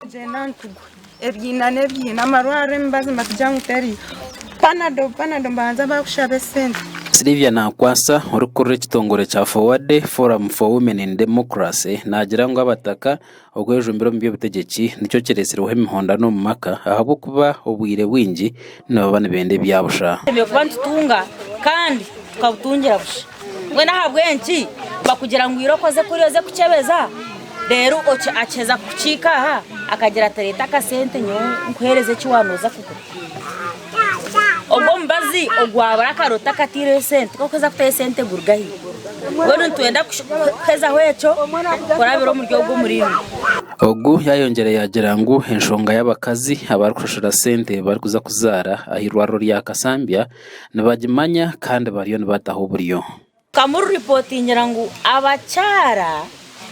Tugyenda nitugwa ebyina n'ebyina amarwariro emibazi nibatugira ngu teriyo panado panado nibabanza baakushabe sente. Sylvia Nakwasa orikurira ekitongore kya FOWADE, Forum for Women in Democracy, naagira ngu abataka okwejumbira omu by'obutegyeki nikyo kireetsireho emihondano omu maka ahabw'okuba obwire bwingi nibaba nibenda ebyabusha. Tutemereire kuba nitutunga kandi tukabutungira busha. Mbwenu ahabw'enki bakugira ngu ira okoze kuri oze kukyebeza, reero akiheza kukiika aha akagira ati reeta akasente nyowe nkuheereze eki waaba nooza kugura. Ogwo omubazi ogwabura akaro takataireyo sente, ku orikuheeza kutayo sente guruga haihi. Mbwenu nitwenda kuhezaho ekyo kurabira omuri ogwo muringo. Ogu yayongyera yaagira ngu enshonga y'abakazi abarikushashura sente barikuza kuzaara aha irwariro rya Kasambya nibagimanya kandi bariyo nibataho oburyo. Kamuru ripotingira ngu abakyara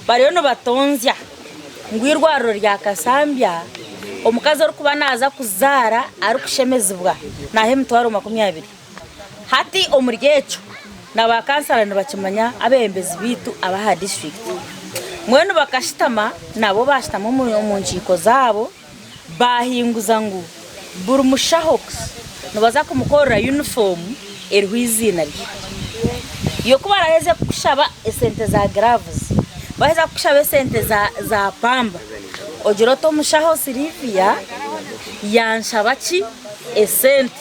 bariyo nibatonzya ngu irwariro rya Kasambya omukazi orikuba naza kuzaara arikushemezibwa naha emitwaro makumi abiri. Hati omuri ekyo na ba kansala nibakimanya abebembezi baitu abaha disiturikiti mbwenu bakashitama nabo bashitama omu nkiiko zaabo bahinguza ngu buri mushaho nibaza kumukorera yunifoomu eriho eiziina rye. Yo ku baraheza kukushaba esente za giravuzi, baheza kukushaba esente za pamba ogira oti omushaho Sylivia yanshaba ki esente.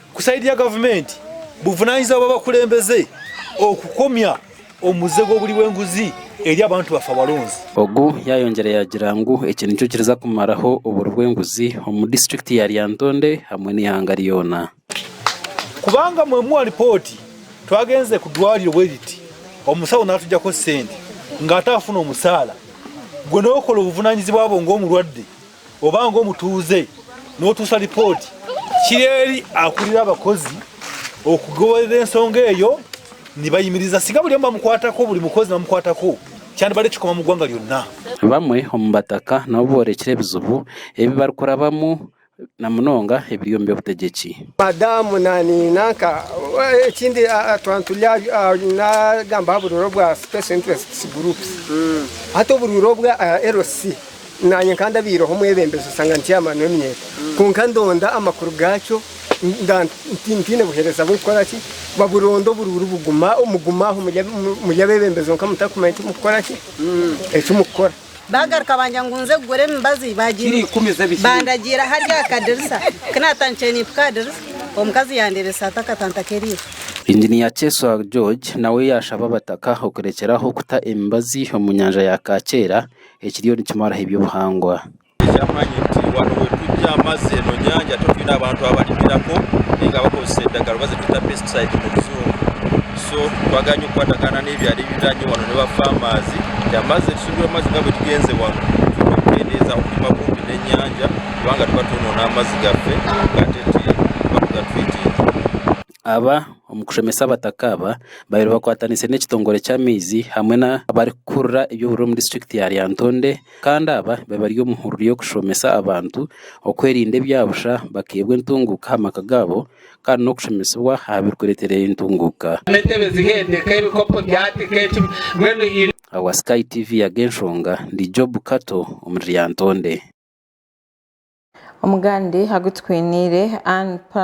Ku sayidi ya gavumenti, buvunanyizibwa bw'abakulembeze okukomya omuze gw'oburi bw'enguzi eri abantu bafa baronzi. Ogu yayongyera yagira ngu eki nikyo kiriza kumaraho oburi bw'enguzi omu disiturikiti ya Lyantonde hamwe n'eihanga ryona. Kubanga mu emwe ripooti twagenze ku dwariro bwe riti, omusaho natugyako sente ngu atafuna omusaala, gwe n'okora obuvunanyizibwa bwo ng'omurwadde Oba ng'omutuuze n'otuusa ripooti, kiri eri akurira abakozi okugoberera ensonga eyo nibayimiriza singa buri omu bamukwatako buri mukozi namukwatako kyandibade kikoma mu gwanga ryona. Bamwe omu bataka nabo boorekire ebizibu ebi barikurabamu na munonga ebiri omu by'obutegyeki. Madamu nani nanka ekindi twaba turi nagamba aha buriro bwa special interests groups hati oburiro bwa LC. Naanye nkandabaireho omwebembezi osanga ndi chairman w'eminyeeto kwonka ndonda amakuru gaakyo ntaine buheereza bw'okukora ki baburonda oburuuru buguma muguma aho muri abebembezi kwonka mutakumanya eki mukukora ki eki mukukora. Baagaruka bangira ngu nze kugura emibazi bandagiira aha ry'akadirisa ku naatandikire nimpika aha dirisa omukazi yaandeeba esaati akatanta k'eriisho. Engineer Kyeswa George nawe yaashaba Abataka okurekyeraho kuta emibazi omu nyanja ya Kaakyera ekiriyo nikimaraho eby'obuhangwa. Eky'amaani nti waba oine ebyama ze nonyanja ate otwine abantu abarimiraho ninga abakozesa endagara oba zetweta pesticides omu rujungu so twaganye okukwatagana n'ebyaro ebiriraanye wanu ne ba farmers nti amazi tusingure amazi nga bwetugenze wanu tuba nitwendeeza okurima kumpi n'enyanja kubanga tuba twonona amazi gaffe ate ti tuba tugatwitinga. Aba omu kushomesa abataka aba babaire bakwatanise n'ekitongore ky'amaizi hamwe n'abarikukurira eby'oburere omu disiturikiti ya Lyantonde kandi aba babaire bari omu hururu y'okushomesa abantu okwerinda ebyabusha bakaihebwa entunguuka aha maka gaabo kandi n'okushomesibwa aha birikureetera entunguuka. Owa Sky TV ya Genshonga ndi Job Kato omuri Lyantonde. Omugande agu tukwiniire, Ann Pla.